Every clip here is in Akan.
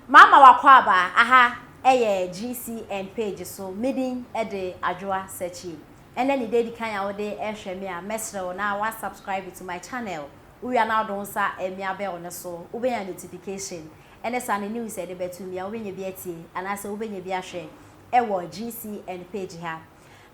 Mama w'akwaaba aha ɛyɛ GCN page so me din de Adwoa Sakyie ɛnɛ ne da edikan a wode ɛrehwɛ me a mɛsrɛ wo na wa subscribe to my channel wowia na wode wo nsa ɛmia bell no so wobɛnya notification ɛne saa ne news a yɛde bɛto bia wobɛnya bi atie anaasɛ wobɛnya bi ahwɛ ɛwɔ GCN page ha.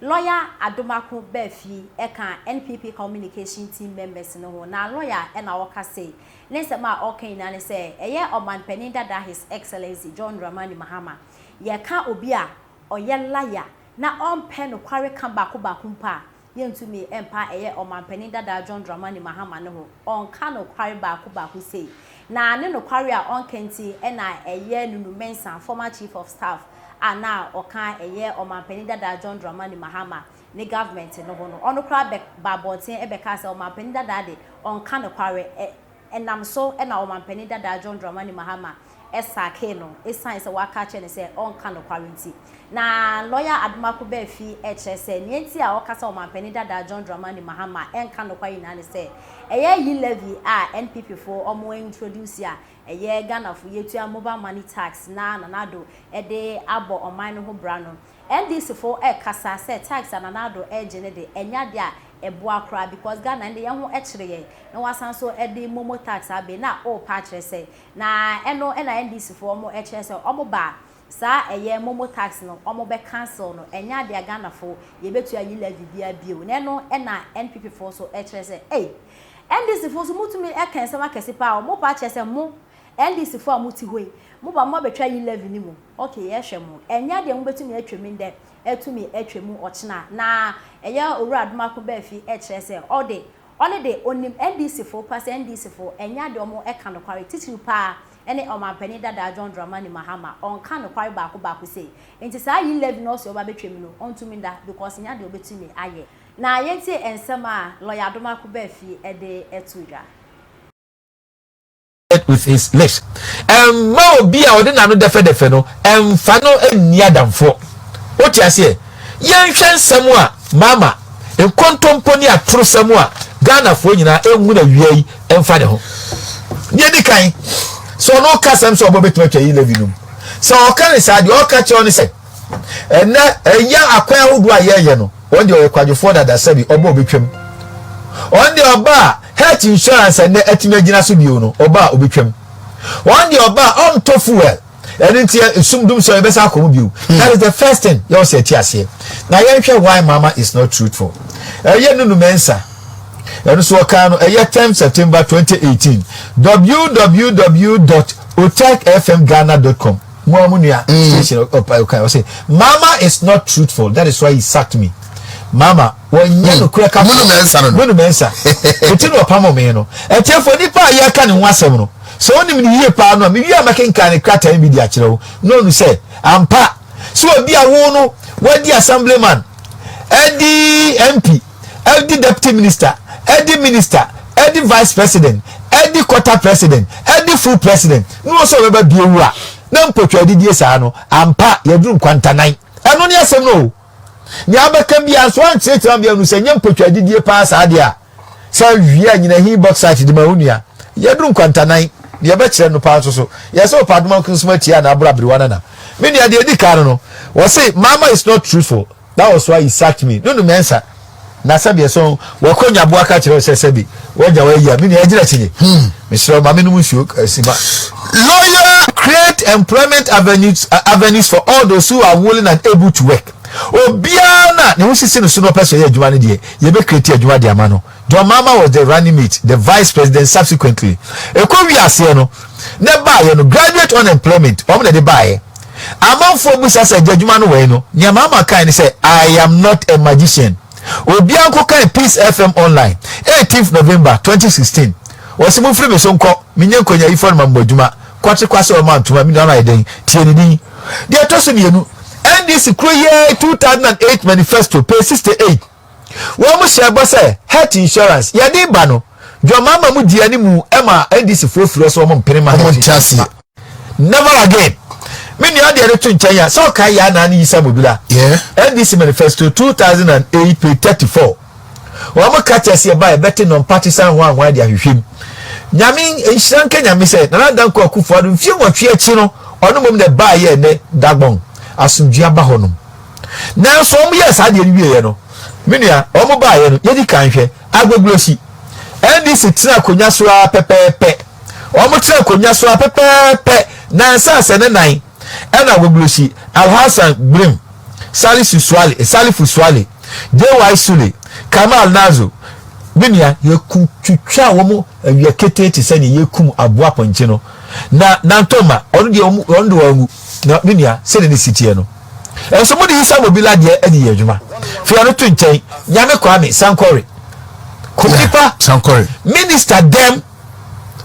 Lɔya Adomako baa fie ɛkaa NPP Communication Team members no ho na lɔya ɛna ɔka sei, ne nsɛm a ɔka nyinaa ne sɛ ɛyɛ Ɔmanpanin dada His Excellency John Dramani Mahama. Yɛka obi a ɔyɛ lɔya na ɔmpɛ nokware ka baako baako mpo a, yɛntumi mpa ɛyɛ Ɔmanpanin dada John Dramani Mahama no ho. Ɔnka nokware baako baako sei. Na ne nokware a ɔnka nti ɛna ɛyɛ Nunu Mensah, Former Chief of Staff, a na ɔka ɛyɛ Ɔmanpanin dadaa John Dramani Mahama ne government no ho no, ɔno koraa bɛ baa abɔnten bɛkaa sɛ Ɔmanpanin dadaa de ɔnka nokware, ɛ ɛnam so na Ɔmanpanin dadaa John Dramani Mahama sackee no ɛsiane sɛ waka akyerɛ no sɛ ɔnka nokware nti. Na lɔya Adomako Bɛɛ fi kyerɛ sɛ nea nti a ɔka sɛ Ɔmanpanin dadaa John Dramani Mahama ɛnka nokware nyinaa ne sɛ ɛyɛ yi levy a NPP foɔ wɔn introduce a ɛyɛ Ghanafo yetua mobile money tax na Nana Addo de abɔ ɔman no ho bra no, NDC fo kasa sɛ tax a Nana Addo regye no de ɛnyɛ ade a ɛboa koraa because Ghana ɛnde yɛn ho kyere yɛn na wasan nso de momo tax abe na orepa akyerɛ sɛ na ɛno na NDC fo wɔkyerɛ sɛ wɔn ba saa ɛyɛ momo tax no wɔn bɛ cancel no ɛnyɛ ade a Ghanafo yɛbɛtua yi levy biara bio na ɛno na NPP fo nso kyerɛ sɛ ei NDC fo nso mo tumi ka nsɛm akɛse paa o, mo paa kyerɛ sɛ mo NDC fo a mo te hɔ yi mo ba mo abɛtwa yi levy no mu ok yɛhwɛ mo ɛnyɛ deɛ mo bɛtumi atwa mu ndɛ atumi atwa mu ɔkyena na ɛyɛ owura adomako baa fi ɛkyerɛ sɛ ɔde ɔne de onim NDC fo pa sɛ NDC fo ɛnyɛ adeɛ ɔmo ɛka nokware titiriw paa ɛne ɔmanpanin dadaa John Dramani Mahama ɔnka nokware baako baako sei nti saa yi levy no ɔse ɔba bɛtwa mu no ɔntumi nda because ɛnyɛ adeɛ ɔbɛtumi ayɛ. Na yɛntie nsɛm a Lɔya Adomako Bafie de to dwa. with his lips Mma obi a ɔde n'ano dɛfɛdɛfɛ no mfa no nni adamfoɔ Wote aseɛ? Yɛnhwɛ nsɛm a Mama, nkontompo ne atorosɛm a Ghanafoɔ nyinaa nhunu awia yi mfa ne ho. Deɛ ɛdi kan, sɛ ɔno reka asɛm sɛ ɔbɔ bɛtumi atwa yi Levinom, sɛ ɔka no saa, deɛ ɔreka kyerɛ wo ne sɛ, Ɛnnɛ, ɛyɛ akwan ahodoɔ a yɛyɛ no, wɔn deɛ ɔyɛ kwadwofoɔ dada sɛbi, ɔba a ɔbɛtwam. Wɔn deɛ ɔba a health insurance a nnɛ atumi agyina so bio no, ɔba a ɔbɛtwam. Wɔn deɛ ɔba a ɔntɔ fuel, ɛno nti ɛ, sum dum sɛ yɛbɛsa akɔ mu bio. Hmm. That is the first thing yɛwɔ sɛ ɛte aseɛ. Na yɛnhwɛ why mama is not truthful. Ɛyɛ Nunu Mensah ɛno so ɔkaa no ɛyɛ 10 september 2018 www.otekfmghana.com Mo a mo nua mm. station ɔpa ɔka ɔsɛ mama is not truthful that is why he sacked me. Mama wɔnyɛ mm. no kura ka. Munu mɛnsa no. Munu mɛnsa. Eti na ɔpam ɔmɛn no. Ɛtiɛfo nipa a yɛka ne ho asɛm no sɛ onim ne yie paa no a mewie a mɛkenkan ne krataa bi de akyerɛ wo na ɔnu sɛ ampa sɛ obi a wo no wadi assemblyman ɛdi mp ɛde Deputy Minister, ɛde Minister, ɛde Vice President, ɛde Quarter President, ɛde Full President, na ɔsɛ ɔbɛba biewu a, na mpɔtwa adidie saa no, ampa, yɛaduru nkwantanan. Ɛno ne asɛm no o. Nea abɛka biara nso ankyerɛkyerɛ ama yɛahunu sɛ nyɛ mpɔtwa adidie paa saa deɛ a, sɛ wie a nyina hin bauxite de ma wo nua. Yɛaduru nkwantanan. Deɛ ɛbɛkyerɛ no paa nso so, yɛsɛ ɔpɛ adoma nko nso ma tia na aboro aberewa no na. Me nua, deɛ ɛdi kan no no, wɔse, Mama is not truthful. Na ɔsoa Isakmi no no mɛnsa, na sɛbi ɛsɔ ho, wɛkɔ nyaboa ka kyerɛ sɛ sɛbi wɛgya wɔ ayia, me nua ɛgyina akyi nye, mesrɛ wo ma me nom nsuo si ma. Lawyer, Create employment avenues avenues for all those who are willing and able to work, obiara no a ne ho sisi no so na ɔpɛ sɛ ɔyɛ adwuma no deɛ, yɛbɛ create adwuma de ama no. John Mahama was the running mate, the vice president subsequently. Ɛkɔ wie aseɛ no, ne baeɛ no graduate unemployment wɔn na ɛde baeɛ. Amanfoɔ busa sɛ gya adwuma no wɛn no, nea Mahama kae ne sɛ I am not a magician. Obiara nko kae Peace FM online, 18th November 2016. Wɔsi mo firi me so nkɔ, me nyɛ nkonyayifɔ no ma mo adwuma. Kwate kwase ɔma ntoma, me nua no ayɛ dɛn? Tie ne din. Deɛ ɛtɔ so mmienu, NDC kuro yɛ 2008 manifesto, page 68. Wɔhyɛɛ bɔ sɛ Health Insurance yɛde reba no, John Mahama mu dii anim ma NDCfoɔ firii so a wɔmpene mma Health Insurance mma. Never again. Me nua deɛ no to nkyɛn a, sɛ ɔkae Yaa Nane Yisa Mobila, NDC Manifesto 2008 page 34. Wɔn ka kyerɛ sɛ ɛba ɛbɛte nɔmpatisan hwan hwan de ahwehwɛ mu. Nyame nhyira nka Nyame sɛ Nana Dankwa Akufo-Addo mfie nwɔtwe akyi no ɔno mmom na ɛbaa yɛ ɛnɛ Dagbon asomdwie aba hɔnom. Nanso wɔn yɛɛ saa deɛ no wieɛ no, me nua, wɔn baeɛ no, yɛdi kan hwɛ, Agbogurosi, NDC tena akonnwa so ara pɛpɛɛpɛ, wɔn tena akonnwa so ara pɛpɛɛpɛ, nansa sɛ ne nan, ɛna Agbogurosi, Alhassan Grim, Salisu Suale, Salifu Suale, JY Sule, Kamal Nazo, me nua, yɛkutwitwa wɔn awia ketee te sɛ deɛ yɛkum aboa pɔnkye no, na Nantoma, ɔno deɛ wɔn de wɔn angu. Na me nua, sɛdeɛ ne si teɛ no nso, mode yi sa mobila adeɛ adi yɛ adwuma. Fei ɔno to nkyɛn, Nyame Kwame Sankore, Kum nipa, Sankore. Minister dɛm,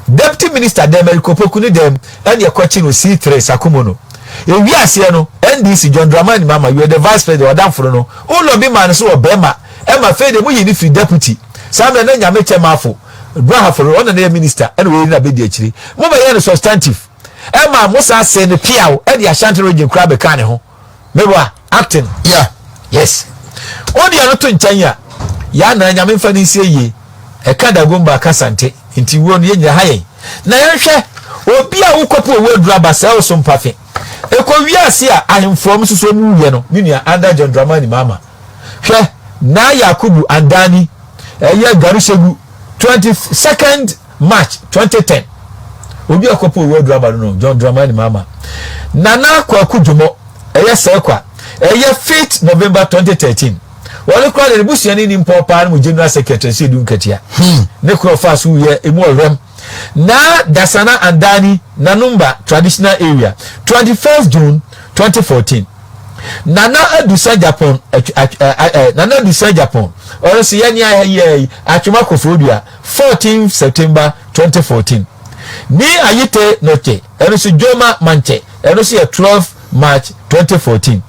Deputy Minister dɛm, Eric Opoku ne dɛm, ɛne ɛkɔkye no C three, Sakumu no. Ɛwie aseɛ no, NDC, John Dramani Mahama, you are the Vice President, ɔdamfo no no, wo lobby maa no sɛ wɔ bɛɛma, ɛma afei deɛ mo yii no firi Deputy, saa mmerɛ na Nyame Kyɛmafo, Brahafo, ɔno na na ɛyɛ Minister, ɛna wei na bɛdi akyire. Mo bɛyɛɛ no Substantive. ɛma mo saa see no piaw ɛde ashanti region koraa bɛkaa ne ho meboa acting yeah yes wode ɛno to nkyɛn a yɛ anaa nyame mfa no nsie yie ɛka dagomba ka sante nti wuo no yɛnyina ha yɛn na yɛnhwɛ obi a wokɔpo owó aduru aba sɛ ɔso mpafe ɛkɔ wiase a ahemfoɔ m soso mu wiɛ no me nua anda john dramani mama hwɛ na yakubu andani ɛyɛ garushegu 22nd March twenty ten, Obi a ɔkɔpɛ Owura Dramah no no, John Dramani Mahama, Nana Kwaku Dwomo, ɛyɛ Sɛkwa, ɛyɛ fifth November twenty thirteen. Ɔno koraa deɛ ne busuani ni mpɔɔ paa no mu General Secretary nso Edu Nkatia. Ne korɔ ɔfaa so wuiɛ emu ɔwerɛm. Na Dasana Andani Nanumba Traditional Area, twenty first June twenty fourteen. Nana Adu Sagyapon, Nana Adu Sagyapon, ɔno nso yɛne ayɛ yi, Atwom Akofo Odua. 14 September 2014 Ni Ayite Noche, ɛno nso Joma Manche, ɛno nso yɛ 12 March 2014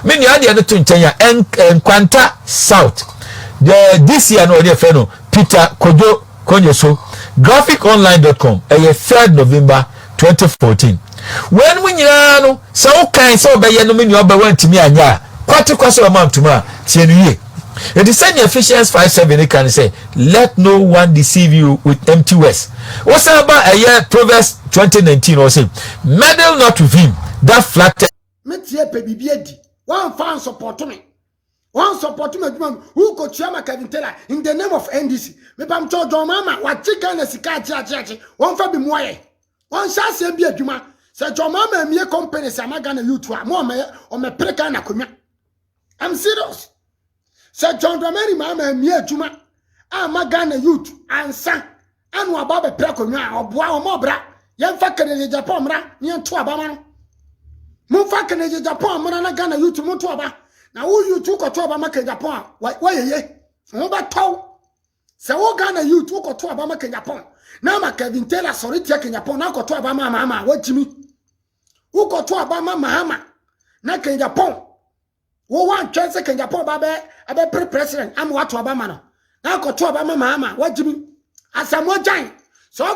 Me nua deɛ no to nkyɛn a, Nkwanta South, deɛ this year no wɔde ɛfɛ no Peter Kojo Konyeso, Graphic Online dot com, ɛyɛ 3rd November 2014. Weinom nyinaa no, sɛ wokae sɛ wobɛyɛ no me nua ɔbɛ woantumi anyɛ a, kwati kwa sɛ ɔma ntom a, tie no yie. Enti sɛnea Ephesians 5:7 no ka no sɛ, Let no one deceive you with empty words. Wosan ba ɛyɛ Proverbs 20:19 no, ɔse, Meddle not with him that flatters. Me tie pɛ biribi adi. Wamfa ansɔpɔto me. One support my adwuma no. Who ko tua ma Kevin Taylor in the name of NDC. Me pam cho John Mama wa che Ghana sika ache ache ache. Won fa bi mua ye. Won sha se bi adwuma. Se John Mama mie company se ama Ghana youth a mo me o me pre Ghana konwa. I'm serious. Se John Dramani Mama mie adwuma ama Ghana youth ansa ɛna ɔba bɛpɛ akonnwa a ɔboa wɔn ɔbra yɛmfa kanegye japan mmra ne yɛnto aba ma no momfa kanegye japan mmra na ghana youth monto aba na wo youth wokɔto aba ma kanegye japan a wɔyɛyɛ ho bɛtɔw sɛ wo ghana youth wokɔto aba ma kanegye japan na ama kevin taylor sɔre tia kanegye japan na akɔto aba ma amaama wɔakyimi wokɔto aba ma mahama na kanegye japan wo wa ntwɛn sɛ kanyapɔn ba bɛ ɛbɛ pre president ama wato aba ma no na akɔto aba ma maama wagyim asɛm ɔgyan sɛ